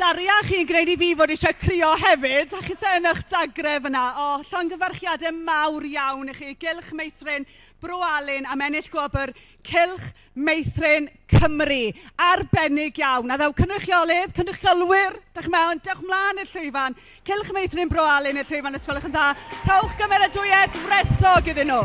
Daria, chi'n gwneud i fi fod eisiau crio hefyd, a chitha yn eich dagref yna. O, oh, llongyfarchiadau mawr iawn i chi. Gylch Meithrin, Bro Alun am ennill gwobr Cylch Meithrin Cymru. Arbennig iawn. A ddaw cynrychiolydd, cynrychiolwyr, dach chi'n meddwl, dewch mlaen i'r llwyfan. Cylch Meithrin Bro Alun i'r llwyfan os gwelwch yn dda. Rhowch gymeradwyaeth wresog iddyn nhw.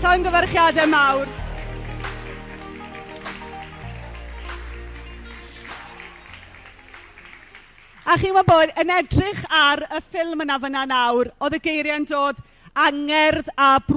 Llongyfarchiadau mawr. A chi'n gwybod bod, yn edrych ar y ffilm yna fan'na nawr, oedd y geiriau'n dod angerdd a...